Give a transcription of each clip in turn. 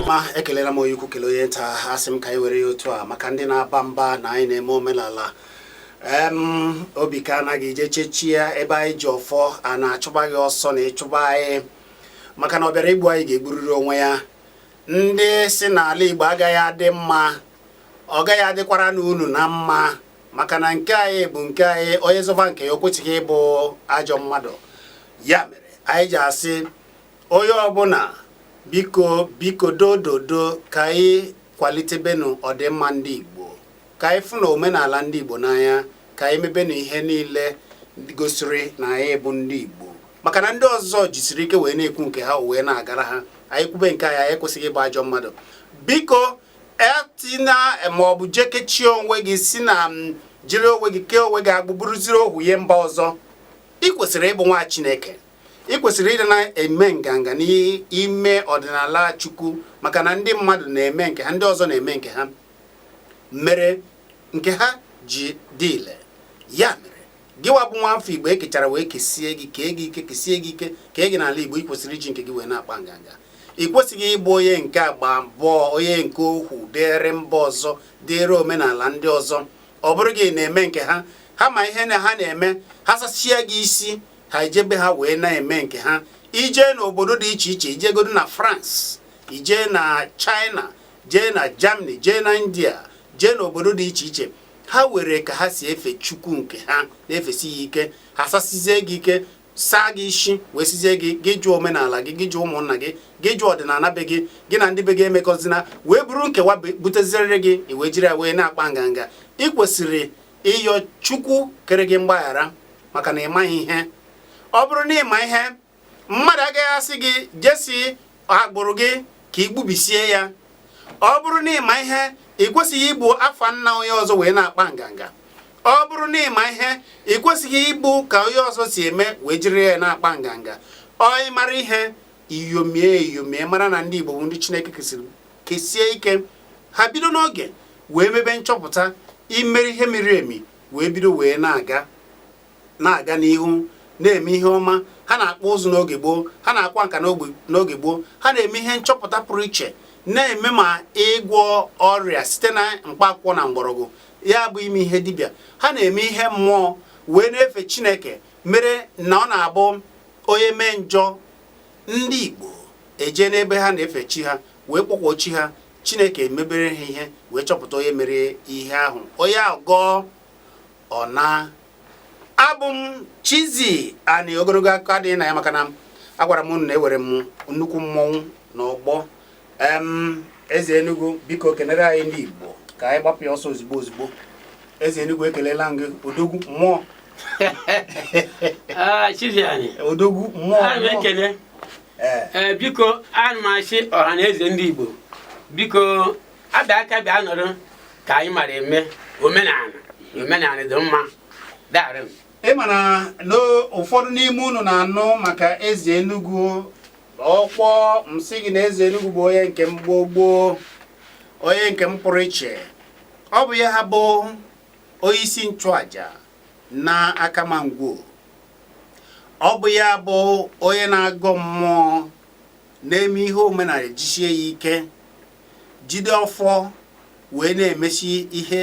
ma ekelela m onye ukwu kele onye nta asị m ka anyị were ya otu a maka ndị na-aba mba na anyị na-eme omenala em obi ka anaghị ije chechi ya ebe anyị ji ọfọ a na-achụba gị ọsọ na ị chụba anyị maka na ọ bịara igbu anyị ga-egburiri onwe ya ndị sị na ala Igbo agaghị adị mma ọ gaghị adịkwaranụ unu na mma maka na nke anyị bụ nke anyị onye zọba nke ya o kwesịghị ịbụ ajọ mmadụ ya mere anyị ji asị onye ọbụla biko dododo ka anyị kwalitebenu ọdịmma ndị Igbo ka anyị fụnụ omenala ndị Igbo n'anya ka anyị mebenu ihe niile gosiri na anyị bụ ndị Igbo maka na ndị ọzọ jisiri ike wee na-ekwu nke ha wee na-agara ha anyị kwube nke anyị anyị ekwesịghị ịbụ ajọ mmadụ biko etina maọbụ je kechie onwe gị si na jiri onwe gị kee onwe gị agbụ bụrụziri ohu nye mba ọzọ ị kwesịrị ịbụ nwa Chineke ị kwesịrị ịdị na-eme nganga n'ime ọdịnala Chukwu maka na ndị mmadụ na-eme nke ha ndị ọzọ na-eme nke ha mere nke ha ji dị ile ya mere gịwa bụ nwa afọ igbo ekechara wee kesie gị kee gị ike kesie gị ike kee gị n'ala igbo ị kwesịrị iji nke gị wee na-akpa nganga ị kwesịghị ịbụ onye nke agba abụọ onye nke ohu dịrị mba ọzọ dịrị omenala ndị ọzọ ọ bụrụ gị na-eme nke ha ha ma ihe na ha na-eme ha sasịa gị isi ha ejebe ha wee na-eme nke ha i jee n'obodo dị iche iche i jegodo na France i jee na China jee na Germany jee na India jee n'obodo dị iche iche ha nwere ka ha si efe chukwu nke ha na-efesi ya ike ha sasizie gị ike saa gị isi wee sịzie gị gị jụ omenala gị gị jụ ụmụnna gị gị jụ ọdịnala be gị gị na ndị be gị emekọzina wee buru nke wa butezirịrị gị i wee jiri ya wee na-akpa nganga ị kwesịrị ịyọ chukwu kere gị mgbaghara maka na ị maghị ihe ọ bụrụ na ị ma ihe mmadụ agaghị asị gị jesi agbụrụ gị ka i gbubisie ya ọ bụrụ na ị ma ihe ị kwesịghị ibu afa nna onye ọzọ wee na-akpa nganga ọ bụrụ na ị ma ihe ị kwesịghị ibu ka onye ọzọ si eme wee jiri ya na-akpa nganga ọ na ị mara ihe iyomie iyomie mara na ndị Igbo bụ ndị Chineke kesịrị kesie ike ha bido n'oge wee mebe nchọpụta imere ihe miri emi wee bido wee na-aga na-aga n'ihu na-eme ihe ọma ha na-akpụ ụzụ n'oge gboo ha na-akwa nka n'oge gboo ha na-eme ihe nchọpụta pụrụ iche na-eme ma ịgwọ ọrịa site na mkpaakwụkwọ na mgbọrọgwụ ya bụ ime ihe dibịa ha na-eme ihe mmụọ wee na-efe chineke mere na ọ na-abụ onye mee njọ ndị igbo eje n'ebe ha na-efe chi ha wee kpọkwuo chi ha chineke emebere ha ihe wee chọpụta onye mere ihe ahụ onye ahụ gọọ ọ na abụ m Chizzy Ani ogologo akụkọ adịghị na ya maka na agwara m unu na ewere m nnukwu mmọnwụ na ọgbọ eze Enugu biko kenere anyị ndị Igbo ka anyị gbapụ ya ọsọ ozugbo ozugbo eze Enugu ekelela gị odogwu mmụọ ah, odogwu mmụọ ekele eh. Eh, biko ana m asị ọha na eze ndị Igbo biko abịa aka bịa nọrọ ka anyị mara eme omenala omenala dị mma darị m ị ma na ụfọdụ n'ime unu na-anụ maka eze Enugu ọkwa m sị gị na eze Enugu bụ onye nke m gboo gboo onye nke m pụrụ iche ọ bụ ya ha bụ onye isi nchụaja na Akama Ngwo ọ bụ ya bụ onye na-agọ mmụọ na-eme ihe omenala jisie ya ike jide ọfọ wee na-emesi ihe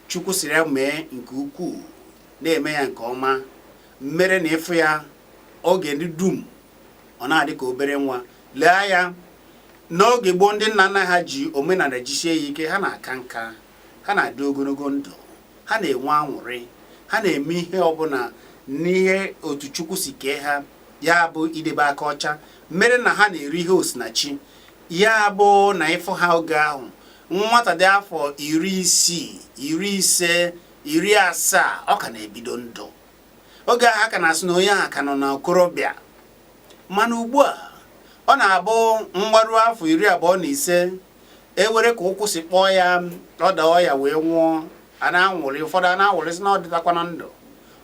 Chukwu siri ya mee nke ukwuu na-eme ya nke ọma mere na ị fụ ya oge ndị dum ọ na-adị ka obere nwa lee ya n'oge gboo ndị nna nna ha ji omenala jisie ya ike ha na-aka nka ha na-adị ogologo ndụ ha na-enwe anwụrị ha na-eme ihe ọbụla n'ihe otu Chukwu si kee ha ya bụ idebe aka ọcha mere na ha na-eri ihe osinachi ya bụ na ị fụ ha oge ahụ nwata dị afọ iri isii iri ise iri asaa ọ ka na-ebido ndụ oge ahụ a ka na-asị na onye ahụ ka nọ n'okorobịa mana ugbu a ọ na-abụ mgbaru afọ iri abụọ na ise ewere ka ụkwụ si kpọọ ya ọ daa ọya wee nwụọ a na-anwụrị ụfọdụ a na-anwụrị sị na ọ dịtakwana ndụ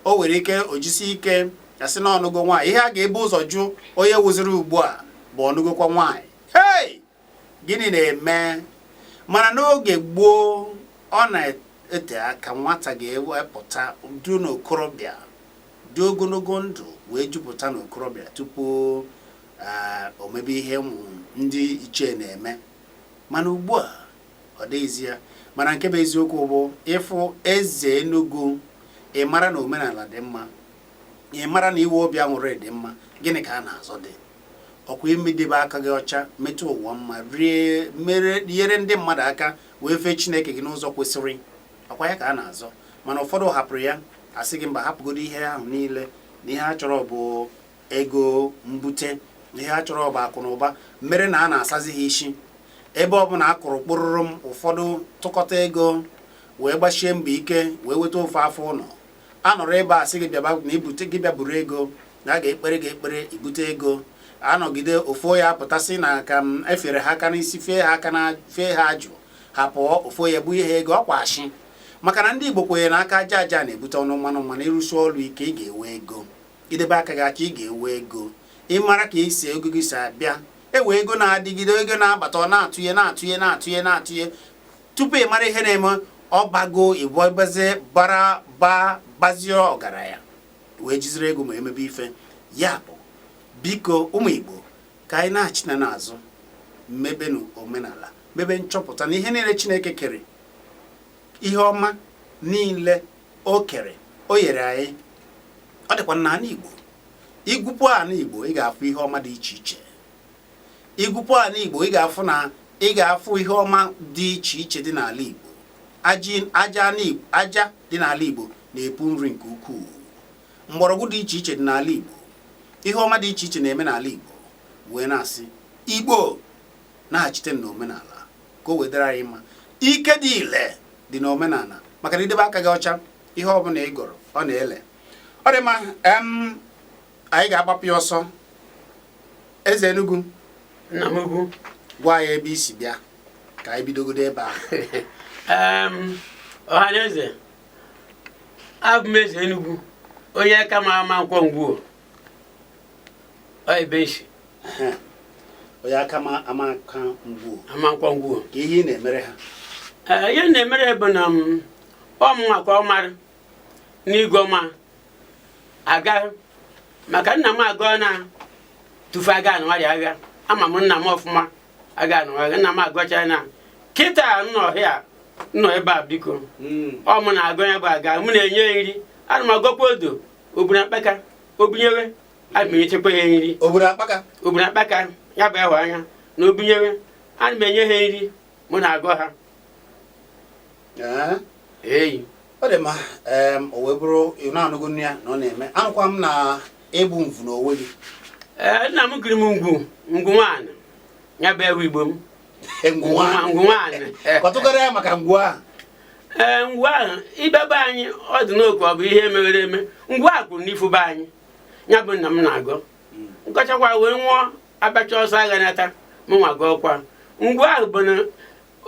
o nwere ike o jisi ike a sị na ọ nụgo nwaanyị ihe a ga-ebu ụzọ jụ onye wụziri ugbu a bụ ọ nụgokwa nwaanyị hei gịnị na-eme mana n'oge gboo ọ na-ete aka nwata ga-ewepụta dị n'okorobịa dị ogologo ndụ wee jupụta n'okorobịa tupu eh, o mebe ihe ụmụ ndị ichie na-eme mana ugbu a ọ dịghịzi ya mana nke bụ eziokwu bụ ị fụ eze Enugu ị mara na omenala dị mma ị mara na iwe obi anwụrị dị mma gịnị ka a na-azọ dị ọkwa imedebe aka gị ọcha meta ụwa mma nyere ndị mmadụ aka wee fee Chineke gị n'ụzọ kwesịrị ọkwa ya ka a na-azọ mana ụfọdụ hapụrụ ya a sị gị mba hapụgodo ihe ahụ niile na ihe a chọrọ bụ ego mbute ihe a chọrọ bụ akụ na ụba mere na a na-asazi ha isi ebe ọbụla a kụrụ kpọrọrọm ụfọdụ tụkọta ego wee gbasie mbọ ike wee weta ofe afọ ụlọ a nọrọ ebe a sị gị bịaba na ibute gị bịa buru ego na a ga-ekpere gị ekpere ibute ego anọgide ofo ya pụtasị na ka m efere ha aka n'isi fee ha aka na fee ha ajụ ha pụọ ofo ya bụ ihe ego ọkwa ashị maka na ndị Igbo kwenyere na aka aja aja na-ebute ọnụ mmanụ mmanụ ịrụsi ọrụ ike ị ga-enwe ego idebe aka gị aka ị ga-enwe ego ịmara ka isi ego gị si abịa enwe ego na-adịgide ego na-abata ọ na-atụnye na-atụnye tupu ị mara ihe na-eme ọ bago ịbọbazie bara bazie ọgaranya wee jiziri ego memebe ife ya bụ biko ụmụ Igbo ka anyị nachinụ n'azụ mebenụ omenala mebe nchọpụta na ihe niile Chineke kere ihe ọma niile o kere o nyere anyị ọ dịkwa na ala Igbo igwupụ ala Igbo ị ga-afụ ihe ọma dị iche iche igwupụ ala Igbo ị ga-afụ ihe ọma dị iche iche dị n'ala Igbo aja dị n'ala Igbo na-epu nri nke ukwuu mgbọrọgwụ dị iche iche dị n'ala Igbo ihe ọma dị iche iche na-eme n'ala Igbo wee na-asị Igbo naghachite n'omenala ka o wee dịrị anyị mma ike dị ile dị na omenala maka na idebe aka gị ọcha ihe ọ bụla ị gọrọ ọ na-ele ọ dị mma anyị ga-agbapụ ya ọsọ eze Enugu nna m ugwu gwa anyị ebe i si bịa ka anyị bidogodo ebe a ọha na eze abụ m eze Enugu onye Akama Amankwọ Ngwo onye Akama Amankwọ Ngwo Amankwọ Ngwo ka ihe ị na-emere ha eh, ihe na-emere bụ na mm, ọ mụnwa ka ọ mara n'ịgọ mma aga maka nna m agọọ na tufu aga anụgharị agha ama m nna m ọfụma aga anụgharị nna m agọcha na kịta nọ ọhịa nọ ebe a biko hmm. ọ mụ na-agọ ya bụ aga mụ na-enye nri ana m agọkwa odo obuna akpaka obunyewe ana m enyechekwa ya nri obuna akpaka obuna akpaka ya bụ ịhụ anya na obunyewe ana m enye ha nri mụ na-agọ ha eyi ọ dị mma o wee bụrụ ị na-anụgo nne ya na ọ na-eme anụkwa m na ịbụ mvu n'onwe gị ee nna m kiri m ngwu ngwu nwaanyị ya bụ ewu igbo m e, nna anyị kọtụkwuoro anyị maka ngwu ahụ ee ngwu ahụ ibebe anyị ọ dị n'okpu ọ bụ ihe mewere eme ngwu a kwụrụ n'ifu be anyị ya bụ nna m na-agọ ngọchakwa wee nwụọ agbacha ọsọ agha nata mụnwa gọọkwa ngwu ahụ bụ na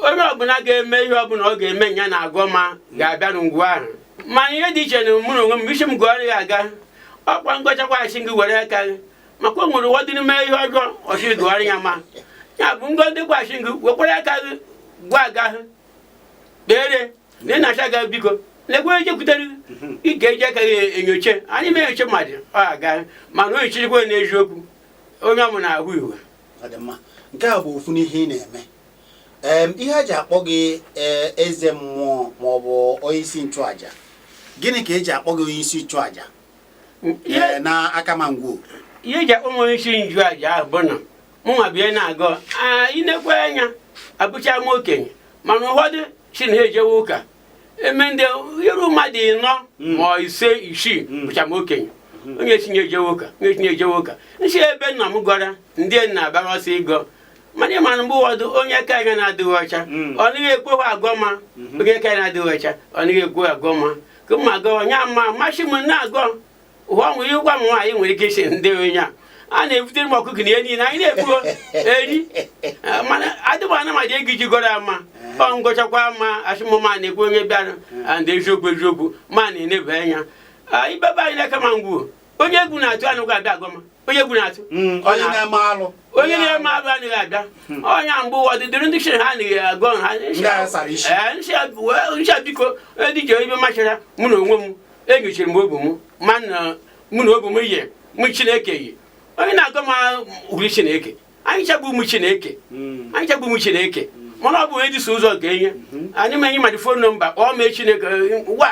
onye ọbụla ga-eme ihe ọbụla ọ ga-eme ya na-agọ ma ga-abịa na ngwu ahụ mana ihe dị iche na mụ na onwe m ị sị m gọọrọ ya aga ọkwa ngọchakwa asị gị were aka gị maka e nwere ụfọdụ na-eme ihe ọjọọ ọ sị gọọrọ ya ma ya bụ ndị ndị gwasị gị wekwara aka gị gwa aga hụ kpere na ị na-acha ga biko lekwa eje kwutere ị ga-eji aka gị enyocha anyị ma enyocha mmadụ ọ aga mana o yichirikwa n'eziokwu onye ọmụ na-ahụ iwe nke a bụ ofu n'ihe ị na-eme ihe a ji akpọ gị e, eze mmụọ maọbụ onye isi nchụaja gịnị ka eji akpọ gị onye isi nchụaja eh, na Akama Ngwo ihe ji akpọ m isi nchụaja ahụ bụ na mụnwa bịa na-agọ i nekwe anya abụcha m okenye mana ụfọdụ si na ha ejewe ụka eme ndị iru mmadụ ịnọ hmm. ma ise isii hmm. bụcha m okenye hmm. onye sị na ya ejewe ụka onye sị na ya ejewe ụka m sị ebe nna m gọra ndị na-agbara ọsọ ịgọ mana ị mara mgbe ụfọdụ onye aka ya na-adịghị ọcha ọ naghị ekweghị agọ ma onye aka ya na-adịghị ọcha ọ naghị ekweghị agọ ma ka m agọ nya ma masị m na-agọ ụwa nwere ịgwa m nwaanyị nwere ike isi ndị onye a a na-ebutere m ọkụkọ na ihe niile anyị na-egbu eri mana adịghị m ana mmadụ ego iji gọrọ ya ma ọ ngọchakwa ma asị m ọ ma na-ekwu onye bịara ndị eziokwu eziokwu ma na-eneba anya ibebe anyị n'Akama Ngwo onye egwu na-atụ anaghị abịa agọ ma onye egwu na-atụ hmm, onye na-eme alụ onye na-eme alụ anaghị abịa hmm. onye mgbe ụfọdụ dịrị ndị chiri ha anaghị agọ ha ncha eh, biko edije ibe machara mụ na onwe m enyochiri m obu m mana mụ na obu m yi mụ chineke yi onye na-agọ ma hụrụ chineke anyị ncha bụ ụmụ chineke hmm. anyị ncha bụ ụmụ chineke hmm. mana ọ bụ onye dịso ụzọ nke ya hmm. anyị ma e nye mmadụ fon nọmba kpọọ mee chineke wa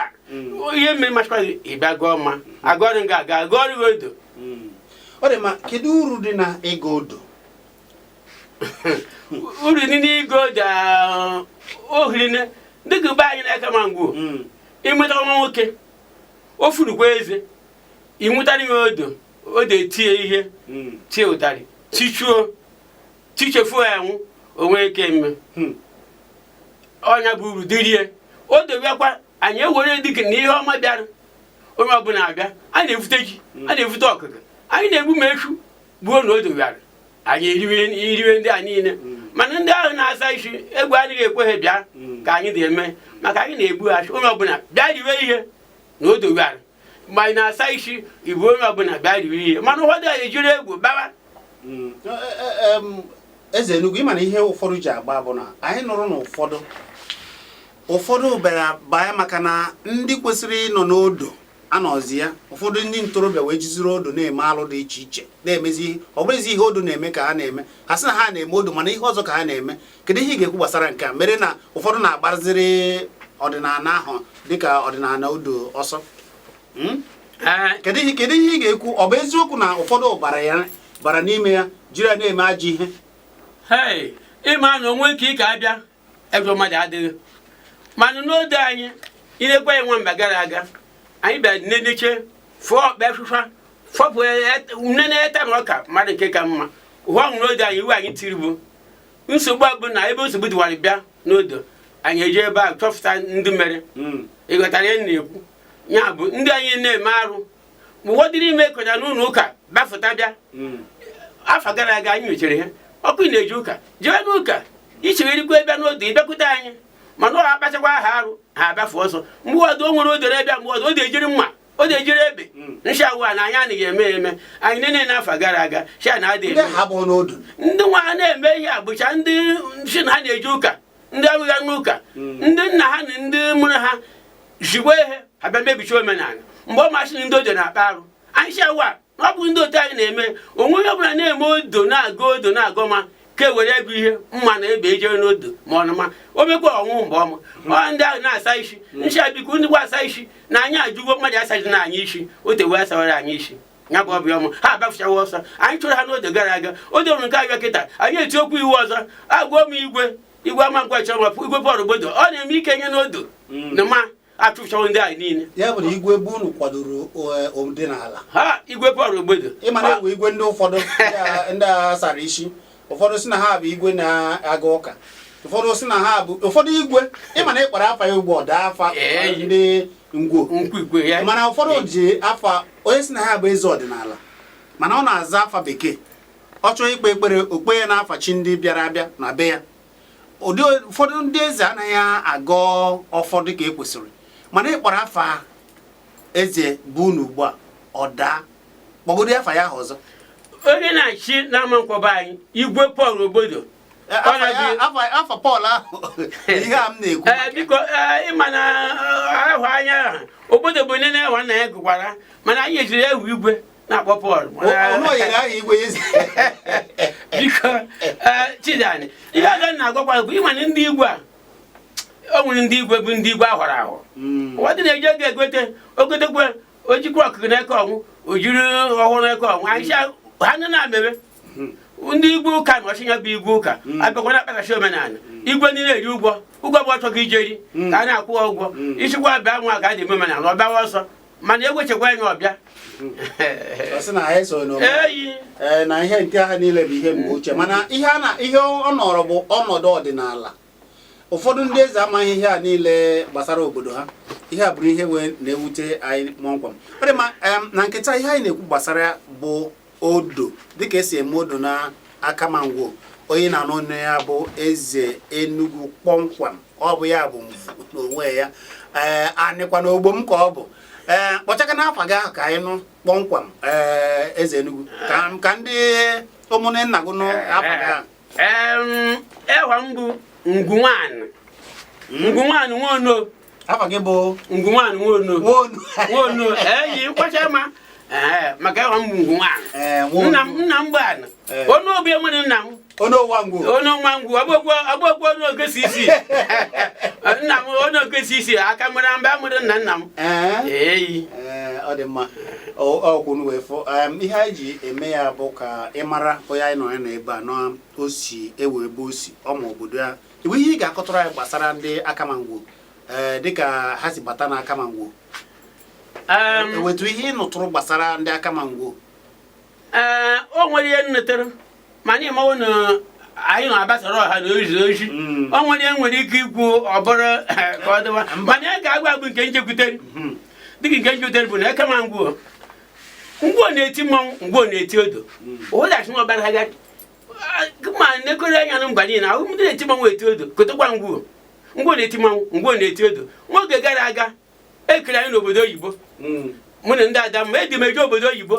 ihe mere machikwa ịbịa gọọ ma agọọrọ nga aga agọọrọ gị odo ọ dị ma kedu uru dị na ịga odo uru dị n'ịga odo o hiri dịka be anyị n'Akama Ngwo ị nweta nwa nwoke o furukwa eze i wetara ya odo odo etie ihe hmm. tie ụtarị tichuo tichefuo ya ọnwụ o nwee ike mme hmm. ọnya bụ uru dịrị ya odo bịakwa anyị ewere dịka na ihe ọma bịara onye ọbụla abịa a na-evute ji hmm. a na-evute ọkụkọ anyị na-egbu ma eshu gbuo na odo bịara anyị eriwe ndị a niile mana ndị ahụ na-asị asị egwu adịghị ekwe ha bịa ka anyị dị eme maka anyị na-egbu eshu onye ọbụla bịa riwe ihe na odo bịara mgbe anyị na-asa isi ibu onye ọbụla bịa riri ihe mana ụfọdụ anyị jiri egwu bawa hmm. e, e, e, eze Enugu ịma na ihe ụfọdụ ji agba bụ na anyị nụrụ na ụfọdụ ụfọdụ bịara baa maka na ndị kwesịrị ịnọ n'odo anọzi ya ụfọdụ ndị ntorobịa wee jiziri odo na-eme alụ dị iche iche na-emezi ihe ọ bụrụzi ihe odo na-eme ka ha na-eme ha sị na ha na-eme odo mana ihe ọzọ ka ha na-eme kedu ihe ị ga-ekwu gbasara nke a mere na ụfọdụ na-agbaziri ọdịnala ahụ dịka ọdịnala odo ọsọ hmm? eh. kedu ihe kedu ihe ị ga-ekwu ọ bụ eziokwu na ụfọdụ bara ya bara n'ime ya jiri ya na-eme ajọ ihe ịma na o nwe nke ị ka abịa ebe mmadụ adịghị mana n'odo anyị ilekwa ya nwa mba gara aga anyị bịara neneche fụọ ọkpa efufa fọpụ nne na-eta m ọka mmadụ nke ka mma ụwa nwụrụ n'odo anyị iwu anyị tiri bụ nsogbu a bụ na ebe nsogbu dịwara bịa n'odo anyị eji ebe a chọpụta ndị mere hmm. ịghọtara ihe m na-ekwu ya bụ ndị anyị na-eme arụ ma ụfọdụrụ ime kọja n'ụlọ ụka gbafụta bịa hmm. afọ gara aga anyị nyochara ihe ọkụ ị na-eje ụka jee n'ụka i chegharịkwa bịa n'odo ịbịakwute anyị mana ọ akpachakwa ha arụ ha agbafụ ọsọ mgbe ọdụ o nwere odoro ebe mgbe ọdụ o dị ejiri mma o ji ejiri ebe hmm. nshị wa na anyị anaghị eme eme anyị nene n'afọ gara aga sha na adị eme ndị nwa ha na-eme ihe a bụcha ndị si na ha na-eje ụka ndị abụghị n'ụka hmm. ndị nna ha na ndị mụrụ ha jigbo ihe ha bịa mebicha omenala mgbe ọma a sị na ndị odo na-akpa arụ anyị shị wa ọ bụ ndị otu anyị na-eme o nwe onye ọbụla na-eme odo na-agọ odo na-agọ ma ka e were ego ihe mma na ebe ejere n'odo ma ọ nụma o mekwa ọnwụ mgbe ọma ọ ndị ahụ na-asa isi ncha biko ndị gwa asa isi na anyị ajụgo mmadụ asaji na anyị isi o tewe asawara anyị isi ya bụ ọbịa ọma ha agbafụchawa ọsọ anyị chụrụ ha n'odo gara aga odo nke a bịa kịta anyị etikwu iwu ọzọ agwa m igwe igwe Amankwo chọrọ igwe Pọl Ogbodo ọ na-eme ike nye n'odo mm. na ma achụpụchawo ndị anyị niile ya bụ na igwe be unu kwadoro eh, ọdịnala ha igwe Pọl Ogbodo ịma na e nwe igwe ndị ụfọdụ ndị a- ndị a sara isi ụfọdụ si na ha bụ igwe na-aga ụka ụfọdụ si na ha bụ ụfọdụ igwe ịma na ị kpọrọ afa ya ugbo ọ daa afa Ee. ndị Ngwo nkwu igwe ya mana ụfọdụ ji afa onye si na ha bụ eze ọdịnala mana ọ na-aza afa bekee ọ chọọ ikpe ekpere o kpee ya n'afa chi ndị bịara abịa na be ya ụdị ụfọdụ ndị eze anaghị agọ ọfọ dị ka ekwesịrị mana ị kpọrọ afa eze be unu ugbu a ọ daa kpọgodi afa ya ahụ ọzọ onye na-achị n'Amankwo be anyị igwe Pọl Ogbodo Eh, Ọ na-ebi- afa- afa- afa pọl ahụ ihe a m na-ekwu Ee, biko ee, ịma na ahụ anya Ogbodo bụ nne na-ewa nna ya gụkwara mana anyị ejiri ewu igwe na-akpọ Pọl biko chidani ihe ọzọ na-agwakwa bụ ị ma na ndị igwe a o nwere ndị igwe bụ ndị igwe a họrọ ahọ hmm. ụfọdụ na-eji ego egote o gotekwe o jikwa ọkụkụ na-eke ọnwụ o jiri ọhụrụ na-eke ọnwụ anyị ha nọ na-amebe hmm. ndị igwe ụka na ọchịnya bụ igwe ụka hmm. a bịakwa na akpakachi omenala igwe ndị na-eri ụgwọ ụgwọ bụ ọ chọghị ijeri ka a na-akwụ ụgwọ ichikwa abịa nwa ka a dị eme omenala ọ bịawa ọsọ mana ewechekwa anyị ọbịa eyi e, na ihe nke ha niile bụ ihe mgbe ochie mana ihe ọ nọrọ bụ ọnọdụ ọdịnala ụfọdụ ndị eze amaghị ihe a niile gbasara obodo ha ihe a bụrụ ihe wee na-ewute anyị kpọmkwem ọ dị mma na nke taa ihe anyị na-ekwu gbasara bụ odo dịka e si eme odo na Akama Ngwo onye na-anụ ọnụ ya bụ eze Enugu kpọmkwem ọ bụ ya bụ mvu n'onwe ya ee a nụkwa na ogbo m ka ọ bụ ee kpọchaka na afa gị ahụ ka anyị nụ kpọmkwem ee eze Enugu ka ka ndị ụmụnne nna gị nụ afa gị ahụ Em, ewa m bụ Ngwu Nwanụ Ngwu Nwanụ Nwono afa gị bụ Ngwu Nwanụ Nwono Nwono Nwono eyi kwacha ma maka ewa m bụ Ngwu Nwanụ nna m nna m gbana onye obi enwere nna m onye ọwa ngwu onye ọwa ngwu ọgbọgwọ onye ogesi isi nna m onye ogesi isi aka mara mba mụrụ nna nna m eyi ọ dị mma ọkwụnụ wee fọ ihe anyị ji eme ya bụ ka ị mara onye anyị na ya nọ ebe a na o si ewe ebe o si ọ ma obodo ya I nwe ihe ị ga-akọtụrụ anyị gbasara ndị Akama Ngwo eh, dịka ha si bata na Akama Ngwo e nwetụ ihe ị nụtụrụ gbasara ndị Akama Ngwo ee eh, o nwere ihe m nụtere mana ị mawo na anyị na-agbasara ọha na ozi ozi hmm. o nwere ihe nwere ike ikwu ọ bụrụ eh, ka ọ dịwa mana ya ga-agwa bụ nke m chekwutere hmm. dịka nke m chekwutere bụ na Akama Ngwo Ngwo na-eti mmanwụ Ngwo na-eti odo hmm. ụdachi nwa ọbara ha ma nekọrọ anya na mba niile ahụ ndị na-eti mmanwụ eti odo kotekwa Ngwo Ngwo na-eti mmanwụ Ngwo na-eti odo nwa oge gara aga e kere anyị n'obodo oyibo hmm. mụ na ndị Adamma edi m eje obodo oyibo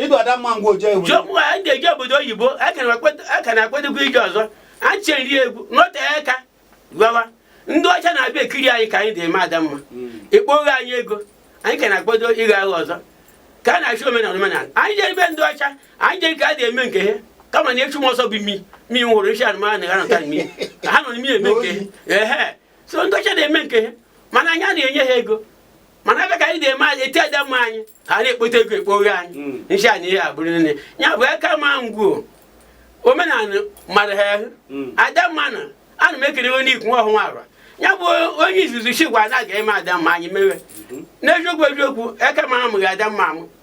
ịdụ Adamma Ngwo ndị eje obodo oyibo a ka na-akwadokwa ije ọzọ a chịrị egwu nọtee aka gbawa ndị ọcha na-abịa ekiri anyị ka anyị dị eme Adamma ekpoghe anyị ego anyị ka na-akwado ịga aga ọzọ ka a na-achị omenala omenala anyị jere ebe ndị ọcha anyị jere ka a dị eme nke ha kama na echu m ọsọ bụ mi mi hụrụ isi anụmanụ ha nọta mi ha nọ n'ime eme nke ha ehe so ndị ọcha na-eme nke ha mana anyị na-enye ha ego mana ebe ka anyị dị eme eti Adamma anyị ha na-ekpote ego ekpoghe anyị hmm. nshi anyị ihe a bụrụ na ya bụ Akama Ngwo omenala mara ha ahụ hmm. Adamma na ana m ekele onye ikwu nwa ọhụrụ arọ ya bụ onye izizi chigwa na a ga-eme Adamma anyị mewe hmm. n'eziokwu eziokwu Akama amụghị Adamma amụ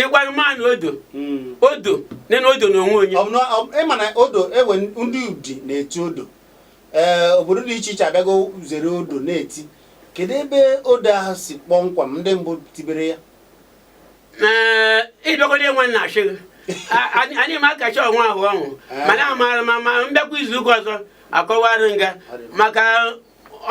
ịgwa mmanwụ odo hmm. odo nene odo na onwe onye ị ma na odo ewe ndị Udi na-eti odo ee eh, obodo dị iche iche abịago zere odo na-eti kedu ebe odo ahụ si kpọmkwem ndị mbụ tibere ya eh, ịbịagodo enwe nna achị anyị ma akacha ọnwa ahụ ọnwụ eh. mana amaara ma ma m bịakwa izu ụka ọzọ akọwara m gị maka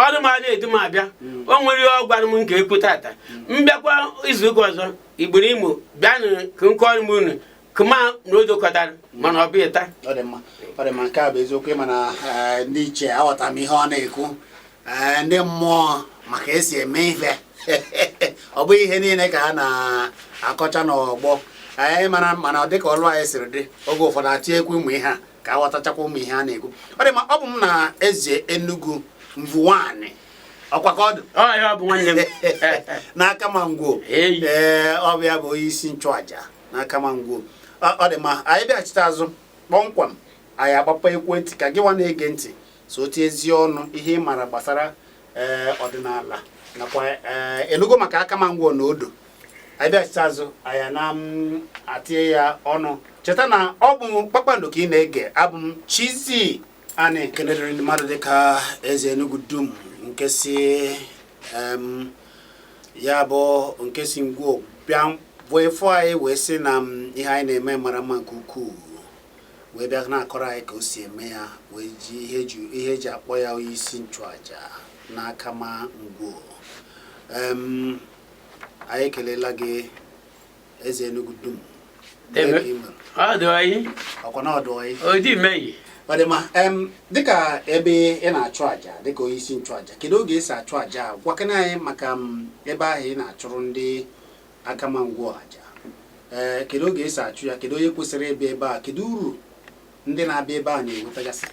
ọrụ m na-edu m abịa mm. o nwere ihe ọ gwara m nke ekwu tata m bịakwa izu ụka ọzọ igbere imo bịanụ ka m kọọrọ m unu ka mma na odo kọtara mana ọ bụghị taa ọ dị mma ọ dị mma nke a bụ eziokwu ị ma na eh, ndị ichie aghọtara m ihe ọ na-ekwu eh, ndị mmụọ ma ka esi eme ife ọ bụghị ihe niile ka ha na-akọcha n'ọgbọ anyị eh, mara mana ọ dịka olu anyị siri dị oge ụfọdụ atinyekwu ụmụ ihe a ka aghọtachakwa ụmụ ihe a na-ekwu ọ dị mma ọ bụ m na eze Enugu mvuwani ọkwa ka ọ dị n'Akama Ngwo ee ọ bụ ya bụ onye isi nchụaja n'Akama Ngwo ọ dị mma anyị bịachite azụ kpọmkwem anyị agbapee ekwentị ka gịwa na-ege ntị so tie ezi ọnụ ihe ị maara gbasara ọdịnala nakwa enugo maka Akama Ngwo na odo anyị bịachite azụ anyị na m atinye ya ọnụ cheta na ọ bụ Kpakpando ka ị na-ege abụ m Chizzy Ani kenedịrị ndị mmadụ dịka eze Enugu dum nke si em, ya bụ nke si ngwo bịa bịa fụ anyị wee sị na m ihe anyị na-eme mara mma nke ukwuu wee bịa na-akọrọ anyị ka o si eme ya wee ji ihe ju- ihe eji akpọ ya onye isi nchụaja n'Akama Ngwo em anyị ekelela gị eze Enugu dum ọ dị mma dịka ebe ị na-achụ aja dịka onye isi nchụaja kedu oge esi achụ aja gwakena anyị maka ebe ahụ ị na-achụrụ ndị Akama Ngwo aja ee eh, kedu oge esi achụ ya kedu onye kwesịrị ịbịa ebe a kedu uru ndị na-abịa ebe a na-enwetagasị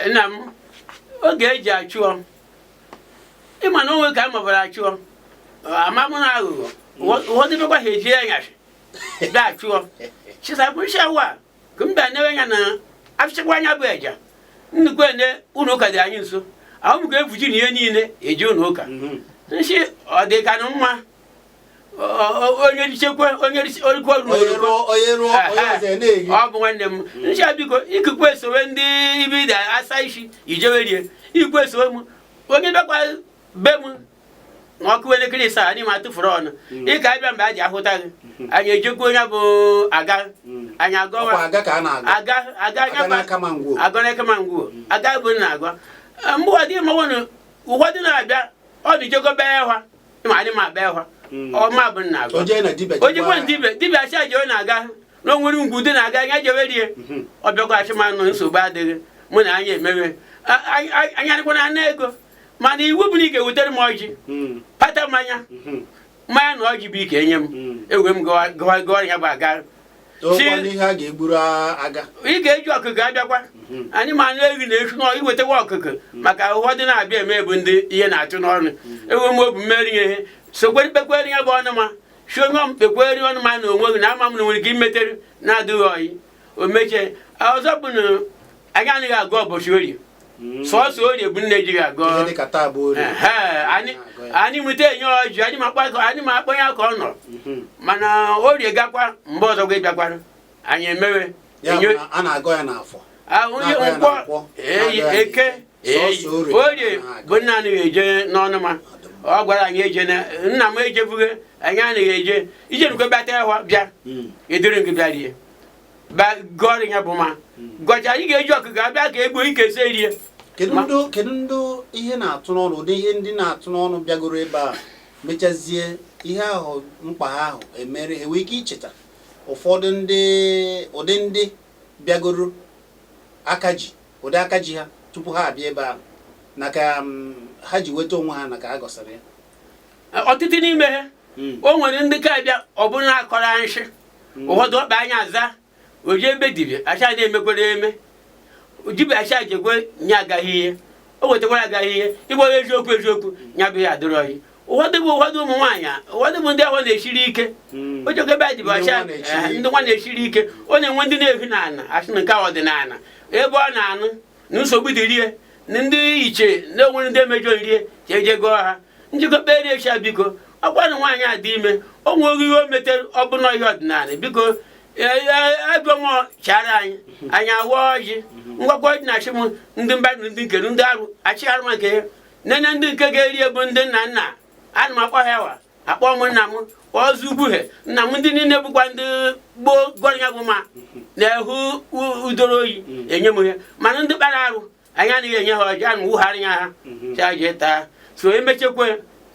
nna m oge eji achụ ị ma na o nwe ka a mabara achụọ amamụ na aghụghọ ụfọdụ mekwa ha eji anyasị bịa achụọ chisabụchi awa ka mba newe anya na afịchakwa anya bụ eja nnukwu ene ụlọ ụka dị anyị nso ahụ ga-efuji na ihe niile eji ụlọ ụka nsi ọ dị ka na mma onye richekwe onye orikwa ruru ọ bụ nwanne m nsị biko ikikwe esowe ndị ibe ide asa isi ijewe rie ikwe esowe m onye bịakwa be m na ọ kụọ elekere isaa anyị ma atụfuru ọnụ hmm. ị ka-abịa mgbe a ji ahụta gị hmm. anyị ejekwa onye bụ aga hmm. anyị agọwa aga n'Akama Ngwo aga bụ na agwa mgbe ụwa dị mmanwụ ụwa dị na-abịa ọ dị jegobe ya ha ịma anyị ma akpa ịhwa hmm. ọma bụ nna agụ o jekwa dibịa dibịa achị ajewe na-aga na o nwere ngwu dị na-aga anya jewe rie hmm. ọ bịakwa achị m na nsogbu adịghị mụ na anyị emewe anyị adịkwana na ego mana iwu bụ na ị ga-ewutere m ọjị hmm. pata mmanya mmanya na ọjị bụ ị ga-enye m ewe m gọwa ya bụ aga ị ga-eji ọkụkọ abịakwa hmm. anyị ma anyị ehi na-echu n'ọrụ iwetawa ọkụkọ hmm. maka ụfọdụ na-abịa eme bụ ndị ihe na-achụ n'ọnụ hmm. ewe m obu mmeri ihe sokwe kpekwere ya bụ ọnụma si onye m kpekweri ọnụma na onwe gị na ama m na nwere ihe i metere na-adịghị ọyị o mechie ọzọ bụ na anyị anaghị agọ ụbọchị orie hmm. sọsọ orie bụ nne ejighị agọ anyị nweta enye ọjị anyị ma akpọ ya ka ọ nọ hmm. mana orie gakwa mgbe ọzọ gị bịakwara anyị emewe nkwọ eke orie bụ nna anaghị eje n'ọnụma ọ gwara anyị eje nna m ejebughị anyị anaghị eje ije nukwe bịata ya bịa hmm. eduru gị bịa rie gọrị ya bụ ma gọcha ị ga-eji ọkụkọ abịa ka egbuo ike se rie kedu ndị ihe na-atụ n'ọnụ ụdị ihe ndị na-atụ n'ọnụ bịagoro ebe a mechazie ihe ahụ mkpa ha ahụ emere ha i nwere ike icheta ụfọdụ ndị ụdị ndị bịagoro aka ji ụdị aka ji ha tupu ha abịa ebe ahụ na ka mm, ha ji nweta onwe ha na ka ha gọsịrị ya ọtụtụ n'ime ha hmm. o nwere ndị ka abịa ọ bụrụ na akọrọ nshị hmm. ụfọdụ ọkpa anya aza o je ebe dibịa acha na-emekwere eme dibịa acha jekwe nye agaghị ihe o wetakwara agaghị ihe ịgwa eziokwu eziokwu nya bụ ya adịrọ ya ụfọdụ bụ ụfọdụ ụmụ nwaanyị ụfọdụ bụ ndị ahụ na-esiri ike hmm. o jekwa ebe dibịa acha eh, ndị nwa na-esiri ike ọ na-enwe ndị na-ehi n'ala asị na nke ọdịnala ebe ọ na-anụ na nsogbu dị rie na ndị iche na-enwere ndị emejọ rie ka eje gọọ ha njikọ kpere echi biko ọkwanụ nwaanyị a dị ime o nweghị ihe o metere ọ bụ n'ihe ọdịnala biko agụmọ e, e, e, chara anyị anyị awa ọjị ngwakwa ọjị na-achị m ndị mba ndị nkere ndị arụ achị arụ maka ihe nene ndị nke ga-eri bụ ndị nna nna ana m akpọ ha wa akpọ m nna m ọzọ ugbuhe nna m ndị niile bụkwa ndị gboo gọrị ya bụ ma na-ehu udoro oyi enye m ya mana ndị kpara arụ anyị anaghị enye ha ọjị ana m wugharị ya ha chaje mhm. taa so emechekwa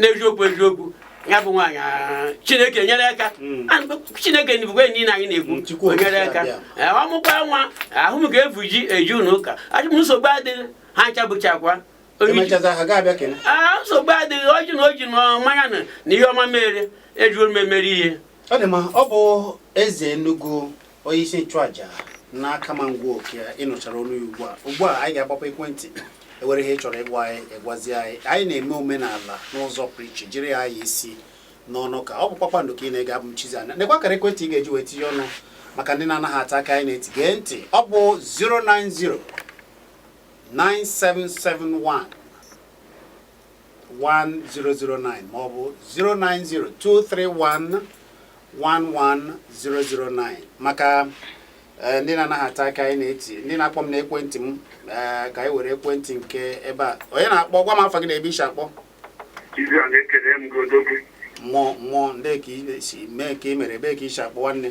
n'eziokwu eziokwu ya bụ nwaanyị ah, chineke nyere aka hmm. ah, chineke bụkwa enyi na anyị na-ekwu hmm, nyere aka eh, ọ mụkwa nwa ahụ m ga-efu ji eji ụlọ ụka achị m nsogbu adịghị ha ncha bụchakwa emechaza ha ga-abịa kene aa nsogbu adịghị oji na oji na mmanya na na ihe ọma mere ejuo m emere ihe ọ dị mma ọ bụ eze enugu onye isi nchụaja n'akama ngwo ka ị nụchara olu ya ugbu a ugbu a anyị ga-agbape ekwentị enwere ihe ị chọrọ ịgwa anyị ị gwazie anyị anyị na-eme omenala n'ụzọ pụrụ iche jiri ya anya isi n'ọnụ ka ọ bụ kpakpando ka ị na-ege abụ m chizi anya nekwa akara ekwentị ị ga-eji wee tinye ọnụ maka ndị na-anaghị ata akị anyị na-eti gee ntị ọ bụ 090 9771 1009 ma ọ bụ 090 231 11009 maka eh, ndị na-anaghị ata akị anyị na-eti ndị na-akpọ m n'ekwentị m eh, ka anyị were ekwentị nke ebe a onye na-akpọ gwa m afa gị na ebe i si akpọ Ibi a na-ekele m gị odogwu. mmụọ mmụọ ndị ka i si mee ka i mere ebe ka i si akpọ nwanne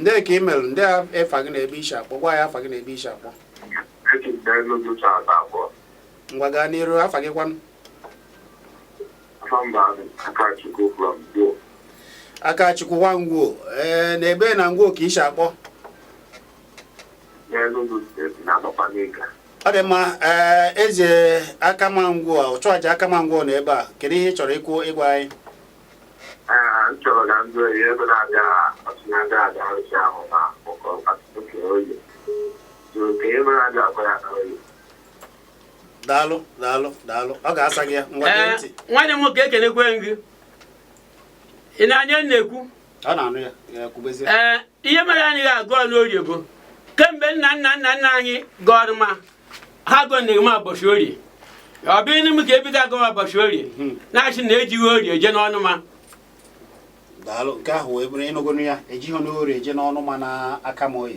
ndị ka ị mere ndị afa gị na ebe i si akpọ gwa ya afa gị na ebe i si akpọ ngwa gaa n'iru afa gị kwanụ Akachukwu nwa Ngwo ee eh, na ebe na Ngwo ka i si akpọ ọ dị mma ee eh, eze Akama Ngwo ọchụaja Akama Ngwo nọ ebe a kedu ihe ị chọrọ ikwu ịgwa anyị daalụ daalụ daalụ ọ ga-asa gị ya ngwa gee ntị nwanne m nwoke ekenekwe gị ị na-anụ ihe m na-ekwu ee ihe mere anaghị agọ n'orie bụ kemgbe nna nna nna nna anyị gọrọ ma ha gọ na ma ụbọchị orie ọ bụ inu m ka ebido agọ ma ụbọchị orie hmm. na-asị na ejighị orie je n'ọnụ ma daalụ nke ahụ wee bụrụ ị nụgonu ya ejighị n'orie je n'ọnụ ma na aka m oyi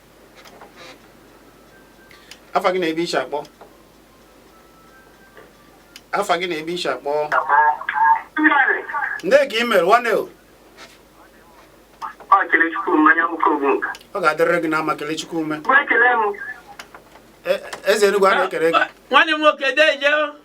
afa gị na ebe i si akpọ afa gị na ebe i si akpọ ndị ka ị mere nwanne o ọ ga-adịrịrị gị na mma kelechukwu ume eze enugwu a na-ekele gị nwanne m nwoke deje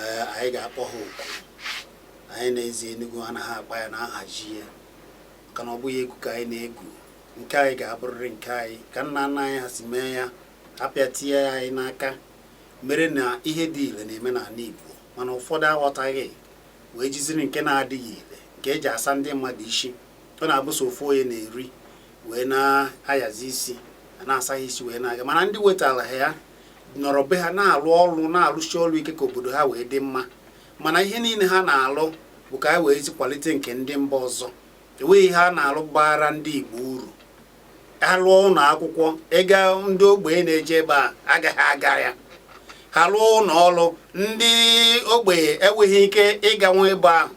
eh, anyị ga-akpọ ha oku anyị na eze Enugu anaghị akpa ya na-ahazi ya maka na ọ bụghị egwu ka anyị na-egwu nke anyị ga-abụrịrị nke anyị ka nna nna anyị ha si mee ya abịa tinye ya anyị n'aka mere na ihe dị ile na-eme n'ala Igbo mana ụfọdụ aghọtaghị wee jiziri nke na-adịghị ile nke eji asa ndị mmadụ isi ọ na-abụ sọ ofu onye na-eri wee na-asazi isi na-asa ha isi wee na-aga mana ndị wetara ha ya nọrọ be ha na-alụ ọrụ na-alụsi ọrụ ike ka obodo ha wee dị mma mana ihe niile ha na-alụ bụ ka anyị weezi kwalite nke ndị mba ọzọ enweghị ihe a na-alụ baara ndị Igbo uru ha lụọ ụlọ akwụkwọ ịga ndị ogbenye na-eje ebe a agaghị aga ya ha lụọ ụlọ ọrụ ndị ogbenye enweghị ike ịganwu ebe ahụ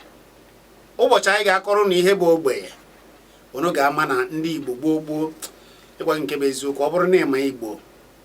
ụbọchị anyị ga-akọrọ unu ihe bụ ogbenye unu ga-ama na ndị Igbo gboo gboo ịgwa nke bụ eziokwu ọ bụrụ na ịma Igbo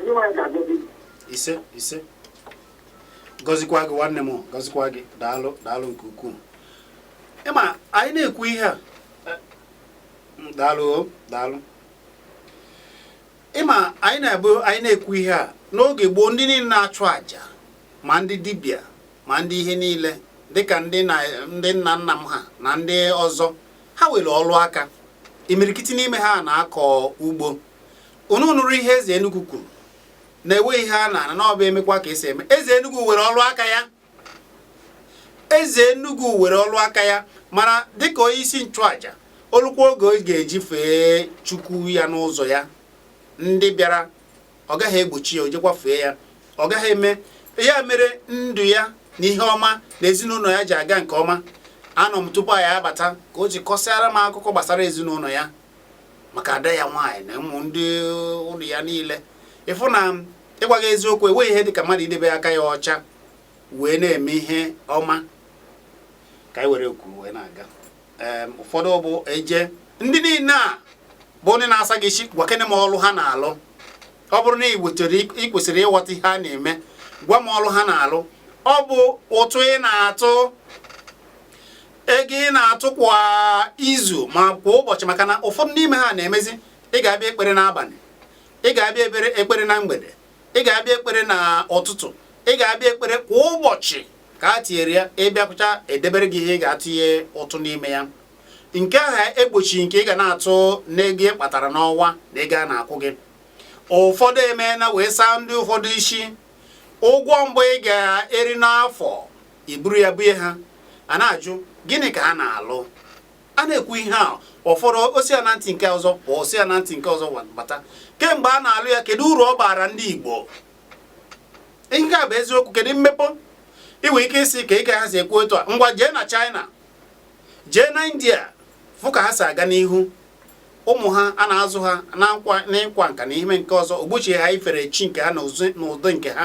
Onyenwe anyị ga-agọzi gị. ise ise gọzikwa gị nwanne m gọzikwa gị daalụ daalụ nke ukwuu ịma anyị na-ekwu ihe a eh, mm, daalụ o, daalụ ịma anyị na-ebu anyị na-ekwu ihe a n'oge gboo ndị niile na-achụ àjà ma ndị dibịa ma ndị ihe niile dịka ndị na ndị nna nna m ha na ndị ọzọ ha nwere ọrụ aka imirikiti n'ime ha na-akọ ugbo unu nụrụ ihe eze Enugu kwuru na enweghị ihe a na-ana n'ọba emekwa ka esi eme eze Enugu nwere ọrụ aka ya eze Enugu nwere ọrụ aka ya mana dịka onye isi nchụaja o lukwa oge ọ ga-eji fee chukwu ya n'ụzọ ya ndị bịara ọ gaghị egbochi ya o jekwa fee ya ọ gaghị eme ya mere ndụ ya na ihe ọma na ezinụlọ ya ji aga nke ọma anọ m tupu anyị abata ka o ji kọsịara m akụkọ gbasara ezinụlọ ya maka ada ya nwaanyị na ụmụ ndị ụlọ ya niile ị fụ na ịgwa gị eziokwu enweghị ihe dịka mmadụ idebe aka ya ọcha wee na-eme ihe ọma ka anyị were kwuru wee na-aga ụfọdụ bụ eje ndị niile a bụ ndị na-asa gị isi gwakene m ọlụ ha na-alụ ọ bụrụ na ị kwesịrị ịghọta ihe a na-eme gwa m ọlụ ha na-alụ ọ bụ ụtụ ị na-atụ ego ị na-atụ kwa izu ma kwa ụbọchị maka na ụfọdụ n'ime ha na-emezi ị ga-abịa ekpere n'abalị ị ga-abịa ekpere na mgbede ị ga-abịa ekpere na ụtụtụ ị ga-abịa ekpere kwa ụbọchị ka a tinyere ya ị bịakwucha edebere gị ihe ị ga-atụnye ụtụ n'ime ya nke ahụ egbochi nke ị ga na-atụ n'ego ị kpatara n'ọnwa na ego a na-akwụ gị ụfọdụ emeela wee saa ndị ụfọdụ isi ụgwọ mbụ ị ga-eri n'afọ i buru ya bunye ha a na-ajụ gịnị ka ha na-alụ a na-ekwu ihe a ụfọdụ o si ya na ntị nke ọzọ pụọ o si ya na ntị nke ọzọ bata kemgbe a na-alụ ya kedu uru ọ baara ndị Igbo nke a bụ eziokwu kedu mmepe i nwe ike ịsị ka ị ga ha si ekwu etu a ngwa jee na China jee na India fụ ka ha si aga n'ihu ụmụ ha a na-azụ ha n'ịkwa nka na ihe nke ọzọ o gbochighị ha ifere chi nke ha na ụdị nke ha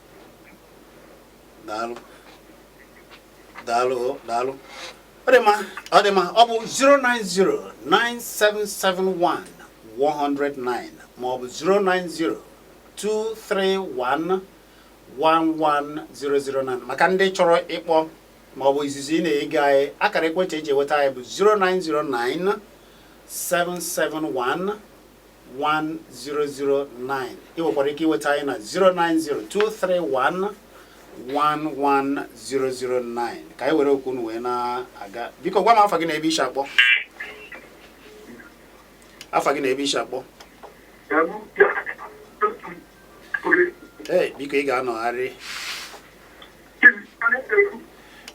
daalụ daalụ o, daalụ ọ dị mma ọ dị mma ọ bụ 09097711009 ma ọ bụ 09023111009 maka ndị chọrọ ịkpọ ma ọ bụ izizi ị na-ege anyị akara ekwentị eji eweta anyị bụ 0909 771 1009 ị nwekwara ike iweta anyị na 09023111009 ka anyị were okwu unu wee na-aga biko gwa m afa gị na ebe i si akpọ afa gị na ebe i si akpọ ee biko ị ga-anọgharị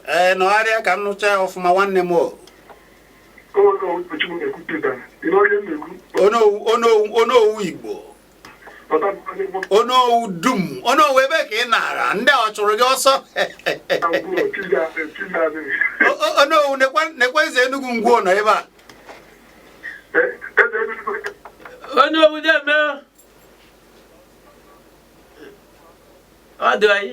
ee nọgharịa ka m nụcha ya ọfụma nwanne m o onowu igbo onowu dum onowu ebe ka ị na-ara ndị ọ chụrụ gị ọsọ onowu nekwa eze Enugwu Ngwo nọ ebe a onowu deeme ọ dị anyị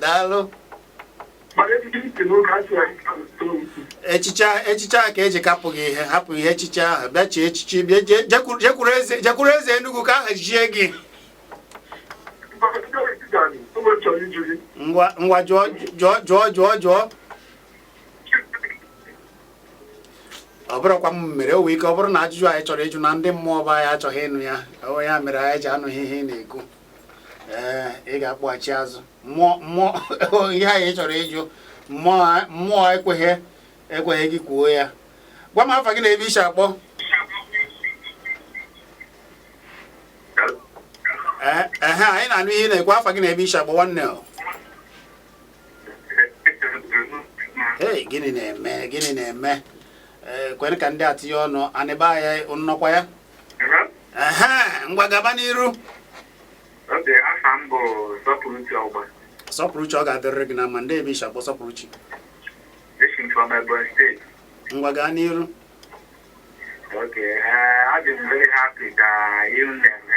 daalụ echichi echichi a ka e ji kapụ gị ihe hapụ ihe echichi ahụ bịa chie echichi jekwuru eze jekwuru eze Enugu ka ha chie gị ngwa jụọ jụọ jụọ jụọ jụọ ọ bụrọkwa m mere o nwere ike ọ bụrụ na ajụjụ a ị chọrọ ịjụ na ndị mmụọ be anyị achọghị ịnụ ya ọ ya mere anyị ji anụghị ihe ị na-ekwu ee ị ga-akpọghachi azụ mmụọ mmụọ ihe a ị chọrọ ịjụ mmụọ mmụọ ekweghị ekweghị gị kwuo ya gwa m afa gị na ebe i si akpọ ee ehe anyị na-anụ ihe ị na-ekwu afa gị na ebe i si akpọ nwanne o Hey, gịnị na-eme gịnị na-eme ee eh, kwere ka ndị a tinye ọnụ anịba ya nnọkwa ya ehe ngwa gaba n'iru okay aha m bụ Sọpụrụchi Ọgba Sọpụrụchi ọ ga-adịrịrị gị na mma ndị ebe i si akpọ Sọpụrụchi esi m from Ebonyi steeti ngwa gaa n'iru okay eh, adị m very happy maka ihe unu na-eme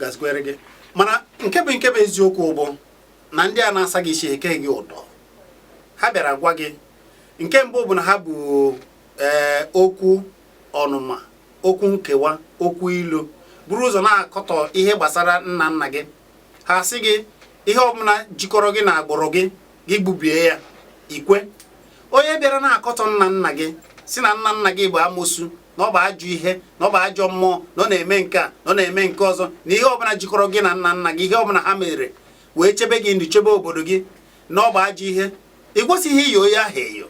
gazikwere gị mana nke bụ nke bụ eziokwu bụ na ndị a na-asa gị isi eke gị ụdọ ha bịara gwa gị nke mbụ bụ na ha bu ee eh, okwu ọnụma okwu nkewa okwu ilu buru ụzọ na-akọtọ ihe gbasara nna nna gị ha sị gị ihe ọbụla jikọrọ gị na agbụrụ gị gị gbubie ya i kwe onye bịara na-akọtọ nna nna gị sị na nna nna gị bụ amosu na ọ bụ ajọ ihe na ọ bụ ajọ mmụọ na ọ na-eme nke a na ọ na-eme nke ọzọ na ihe ọbụla jikọrọ gị na nna nna gị ihe ọbụla ha mere wee chebe gị ndụ chebe obodo gị na ọ bụ ajọ ihe ị kwesịghị iyo ya ahụ eyo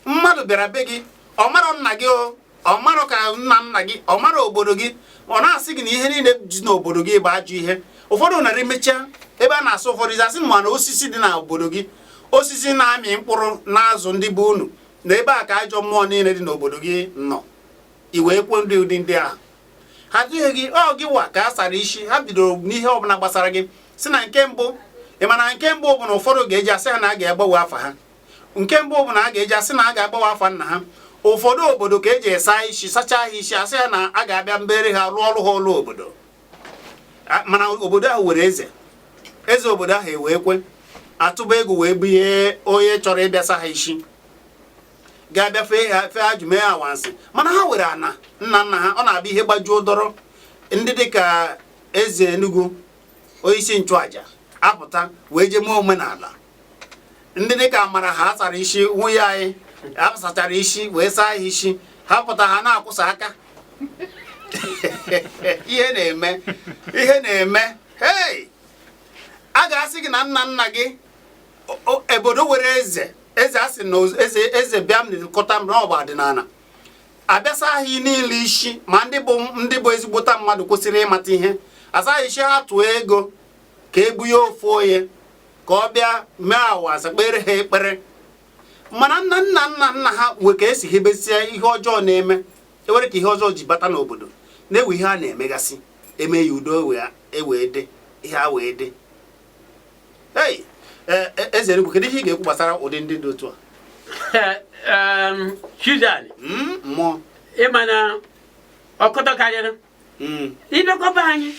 mmadụ bịara be gị ọ marọ nna gị o ọ marọ ka nna nna gị ọ marọ obodo gị ọ na-asị gị na ihe niile dị n'obodo gị bụ ajọ ihe ụfọdụ narị mechaa ebe a na-asụ ụfọdụ asị ma na osisi dị n'obodo gị osisi na-amị mkpụrụ na-azụ ndị be unu na ebe a ka ajọ mmụọ niile dị n'obodo gị nọ i wee kwuo ndị ụdị ndị ahụ ha dịghị gị ọ gị wa ka a sara isi ha bidoro n'ihe ọbụla gbasara gị si na nke mbụ ị ma na nke mbụ bụ na ụfọdụ ga-eji asị ha na a ga-agbanwe afa ha nke mbụ bụ na a ga-eji asị na a ga-agbanwe afa nna ha ụfọdụ obodo ka eji esa isi sachaa ha isi asị ha na a ga-abịa meere ha rụọrọ ha ọrụ obodo mana obodo ahụ nwere eze eze obodo ahụ ewee kwe atụba ego wee bunye onye chọrọ ịbịa sa ha isi ga-abịa fee ajụ mee awansị mana ha nwere ana nna nna ha ọ na-abụ ihe gbajuo dọrọ ndị dịka eze Enugu onyeisi nchụaja apụta wee jee mee omenala ndị dịka mara ha sara isi nwunye anyị a sachara isi wee saa ha isi ha pụta ha na-akwụsa aka ihe na-eme hei a ga-asị gị na nna nna gị obodo nwere eze eze a sị na eze eze bịa m na-elekọta m n'ọgba ọdịnala abịa saa ha niile isi ma ndị bụ ezigbote mmadụ kwesịrị ịmata ihe asaa ha isi ha tụọ ego ka ebunye ofu onye ka ọ bịa mee awansị kpere ha ekpere mana nna nna nna nna ha nwee ka esi hebezie ihe ọjọọ na-eme enwere ka ihe ọjọọ ji bata n'obodo enwee ihe a na-emegasị eme ya udo ewee dị ihe a wee dị ei e, e, eze Enugu kedu ihe ị ga-ekwu gbasara ụdị ndị dị otu a Susan hmm, mmụọ ị ma na ọkụtọ karịrị hmm. ị bịakọ be anyị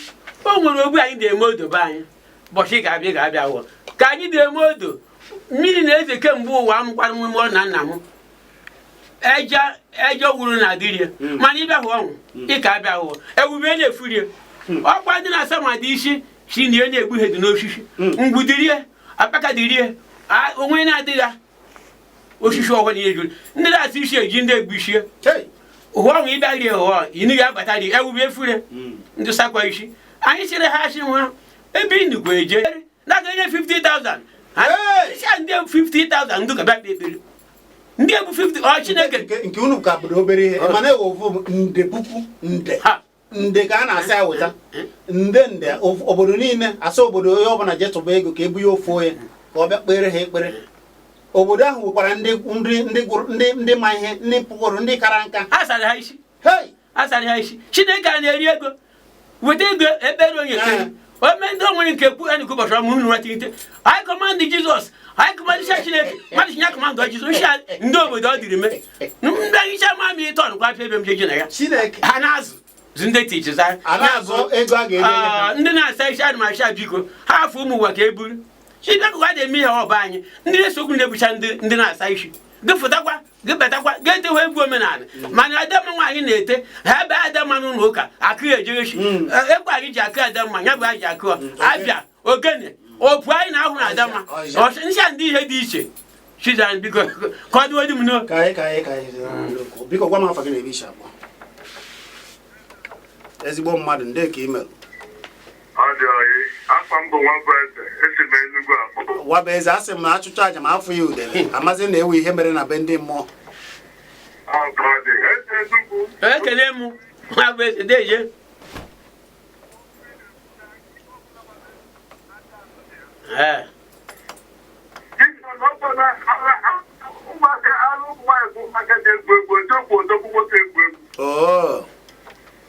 o nwere oge anyị na-eme odo be anyị ụbọchị ga-abịa wụ ka anyị na-eme odo mmiri na-ezo kemgbe ụwa m gwara m ụlọ na nna m eje wuru na adịrie hmm. mana ị bịa hụ ọnwụ hmm. ịka abịa hụọ ewube na-efurie ọkwa ndị na-asa mmadụ isi sị na ihe na-egbu ihe dị n'osisi ngwu dịrie akpaka dịrie o nwe na-adịghị osisi ọhụrụ ihe juru ndị na-asa isi eji ndị egbuchie ụhụ ọnwụ ịbịaghị ụhọ ini ya agbata dị ewube efure hmm. ndị sakwa isi anyị sịrị ha asị nwa ebe ị nụkwa eje na-aga enye 50,000 isi a ndị 50,000 ndị ka bịa kpe ekpere ndị ebu 50 ọ chineke nke unu ka bụrụ obere ihe mana ewe ofu nde puku nde nde ka a na-asị awụta nde nde obodo niile asị obodo onye ọbụla je tụba ego ka ebunye ofu onye ka ọ bịa kpere ha ekpere obodo ahụ nwekwara ndị nri ndị gụrụ ndị ndị ma ihe ndị pụgoro ndị kara nka a sara ha isi hei a sara ha isi chineke a na-eri ego weta ego ekpere onye ekpere ome ndị onwere nke kwu enyi ụbọchị ọmụ unu ratirite I command Jesus I command isi chineke mmadụ chinya command Jesus isi ndị obodo ọ dịrị mee ndị hicha ma mi ịtọ nkwa afọ ebe m jeje na ya ha na-azụ zu ndị teachers ndị na-asa isi adị ma asa biko ha afọ ụmụ ụwa ka e buru chibekụwa dị eme ihe ọba anyị ndị na-esokwu na-ebucha ndị na-asa isi gị fụtakwa gị betakwa gị etewe egwu omenala mana adamma nwaanyị na-ete ha ebe adamma n'ụlọ ụka akụ ya ejerechi mm. e, ekwe anyị ji akụ adamma ya bụ anyị ji akụ mm. abịa ogene opu anyị na-ahụ na adamma ncha ndị ihe dị iche chizan biko kọdụ odi m no biko gwa m afọ gị na-ebe isi abụọ ezigbo mmadụ ndị ka ị mere nwabụeze a sị m na achụchaa aja ma afụghị udele amazi na enwe ihe mere na be ndị mmụọ ekele m nwabụeze deje ee ụmụaka anụ ụmụ nwaanyị bụ ụmụaka ji egwu egwu eji okwu odogwu nwoke egwu egwu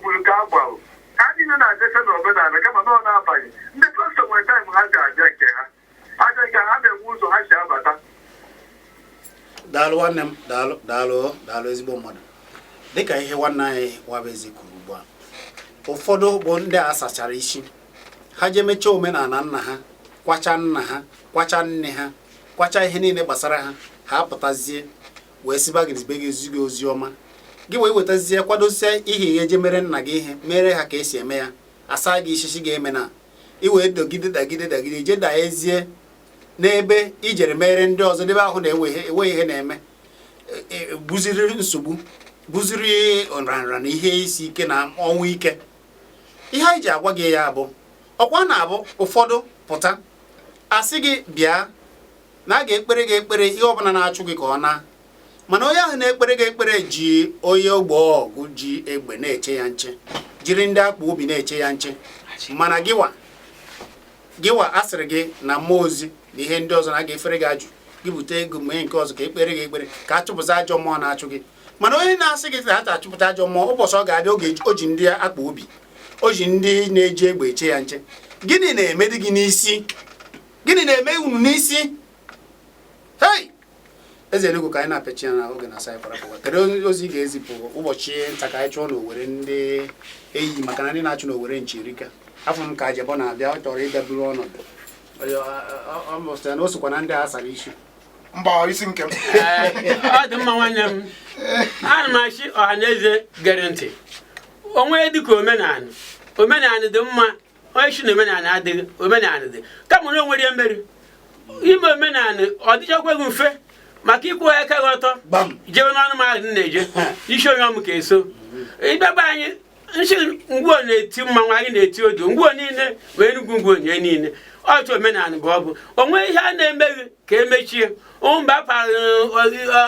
kwuru nke a gwara ha niile na-abịacha n'omenala kama na ọ na-abaghị ndị pastor nwere time ha ji abịa nke ha abịa nke ha na-enwe ụzọ ha si abata daalụ nwanne m daalụ daalụ daalụ ezigbo mmadụ dịka ihe nwanne anyị nwabụeze kwuru ugbu a ụfọdụ bụ ndị a sachara isi ha jee mechaa omenala nna ha kwacha nna ha kwacha nne ha kwacha ihe niile gbasara ha ha apụtazie wee ziba gị zibe gị ezi gị ozi ọma gị wee wetazie kwadosie ihe ihe je mere nna gị ihe mere ha ka esi eme ya asaa gị isi sị gị emena i wee dagide dagide dagide je daazie n'ebe ijere mere ndị ọzọ dị ebe ahụ na-enwe ihe na-eme e, e, bụziri nsogbu bụziri nrịanrịa na ihe isi ike na ọnwụ ike ihe anyị ji agwa gị ya bụ ọkwa na-abụ ụfọdụ pụta asị gị bịa na a ga-ekpere gị ekpere ihe ọbụla na-achụ gị ka ọ na mana onye ahụ na-ekpere gị ekpere ji onye ogbe ọgụ ji egbe na-eche ya nche jiri ndị akpa obi na-eche ya nche mana gịwa gịwa a sịrị gị na mmụọ ozi na ihe ndị ọzọ na a ga-efere gị ajụ gị bute ego mee nke ọzọ ka ekpere gị ekpere ka a chụpụta ajọ mmụọ na-achụ gị mana onye na-asị gị na achụpụta ajọ mmụọ ụbọchị ọ ga-abịa oge o ji ndị akpa obi o ji ndị na-eji egbe eche ya nche gịnị na-emedị gị n'isi gịnị na-eme unu n'isi hei eze enugwu ka anyị na-apịachi ya na oge na-asị anyị para pụwa kedu ozi ị ga-ezipụ ụbọchị nta ka anyị chụọ n'owere ndị eyi maka na ndị na-achụ n'owere nchi erika afụ m ka ajebọ na-abịa ọ chọrọ ịbịa buru ọnọdụ mụ sị ya na o sokwa na ndị a sara isi mba isi nke m ọ dị mma nwanne m ana m asị ọha na eze gere ntị onwe dịka omenala omenala dị mma onye si na omenala adịghị omenala dị kama na onwere ihe mere ime omenala ọ dịchakwaghị mfe maka ịkwụ aka gị ọtọ jewe n'ọnụ mahadum na-eje isi onye ọmụ ka eso ịbịaba anyị nsi ngwuo na-eti mmanwụ anyị na-eti odo ngwuo niile ma enugwu ngwuo nye niile ọchụ omenala bụ ọ bụ onwe ihe a na-emeghị ka emechie mba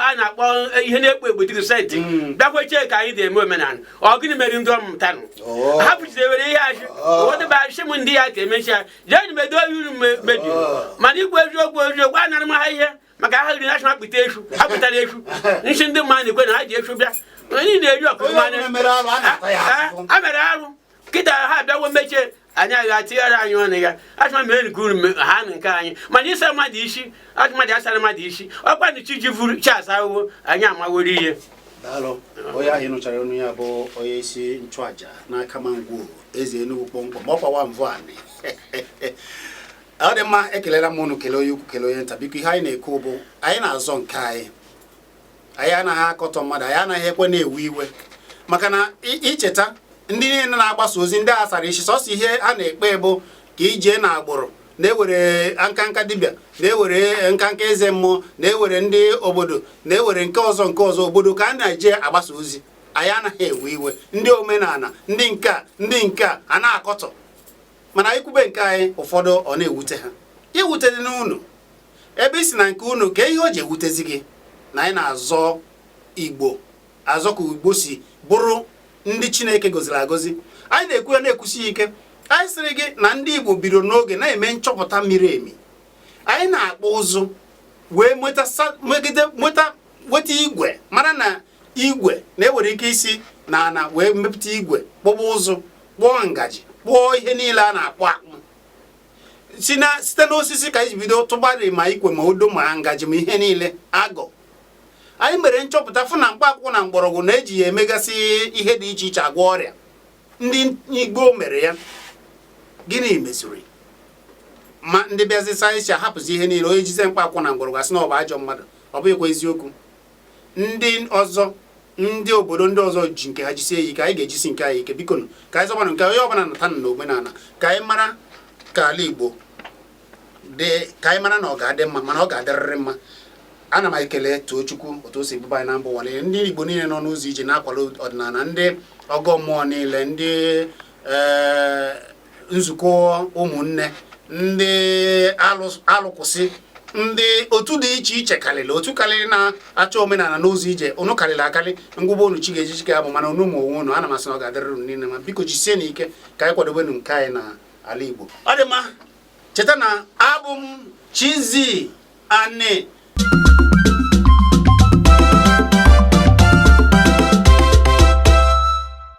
a na-akpọ ihe na-ekpo egbo dịrị senti mm. bịakweche ka anyị ga-eme omenala ọ gịnị mere ndị ọmụtanụ oh. ha pụchidewere ihe achị oh. odebe achị m ndị ya ka emechi ya jee medo oyi uru mebiri oh. mana ikwu eziokwu eziokwu a nara m ha ihe maka ha riri national pụta efu ha pụtara efu nsi ndị mmadụ na-ekwe na ha ji efu bịa onye na-eri ọkụ mmanya a mere arụ kịta ha abịawo mechie anyị agha tinyere anyị ọnụ ya achọma mere nke uru ha na nke anyị mana ịsa mmadụ isi achọmadị asara mmadụ isi ọkwa na chi ji vuru chi asa ahụhụ anyị amaworo ihe daalụ onye ahụ nụchara olu ya bụ onye isi nchụaja n'akama ngwo eze enugwu kpọmkwem ọ kwawa mvụ anị ọ dị mma ekelela m unu kelee onye ukwu kelee onye nta biko ihe anyị na-ekwu bụ anyị na-azọ nke anyị anyị anaghị akọtọ mmadụ anyị anaghịkwanụ ewe iwe maka na icheta ndị niile na-agbasa ozi ndị a sara isi sọsọ ihe a na-ekpe bụ ka ijee na agbụrụ na-ewere nkanka dibịa na-ewere nkanka eze mmụọ na-ewere ndị obodo na-ewere nke ọzọ nke ọzọ obodo ka a na-eje agbasa ozi anyị anaghị ewe iwe ndị omenala ndị nke a ndị nke a a na-akọtọ mana anyị kwube nke anyị ụfọdụ ọ na-ewute ha ewute dị n'unu ebe ị sị na nke unu ka ihe o ji ewutezi gị na anyị na-azọ igbo azọ ka igbo si bụrụ ndị chineke goziri agozi anyị na-ekwu ya na-ekwusi ike anyị sịrị gị na ndị igbo bidoro n'oge na-eme nchọpụta miri emi anyị na-akpụ ụzụ wee nweta weta igwe mara na igwe na e nwere ike isi na ana wee mepụta igwe kpụba ụzụ kpụọ ngaji kpụọ ihe niile a na-akpụ akpụ site n'osisi ka anyị bido tụbarị ma ikwe ma odo ma ngaji ma ihe niile ahụ anyị mere nchọpụta fụ na mkpa akwụkwọ na mgbọrọgwụ na e ji ya emegasị ihe dị iche iche agwọ ọrịa ndị igbo mere ya gịnị meziri ma ndị bịazi sayensị a hapụzi ihe niile onye jize mkpa akwụkwọ na mgbọrọgwụ a sị na ọ bụ ajọ mmadụ ọ bụghịkwa eziokwu ndị ọzọ ndị obodo ndị ọzọ ji nke ha jisie ya ike anyị ga-ejisi nke anyị ike biko ka anyị zọbanụ nke onye ọbụla nata na omenala ka anyị mara ka ala Igbo dị ka anyị mara na ọ ga-adị mma mana ọ ga-adịrịrị mma ana m ekele Tochukwu otu o si buba anyị na mba ụwa niile ndị Igbo niile nọ n'ụzọ ije na-akwado ọdịnala ndị ọgọ mmụọ niile ndị eh, nzukọ ụmụnne ndị alụkwụsị ndị otu dị iche iche karịrị otu karịrị na-achọ omenala n'ụzọ ije unu karịrị akarị m gụba unu chi ga-eji chi ga-abọ mana unu ma onwe unu ana m asị na ọ ga-adịrị unu niile mma biko jisienụ ike ka anyị kwadobenụ nke anyị na ala Igbo ọ dị mma cheta na abụ m Chizzy Ani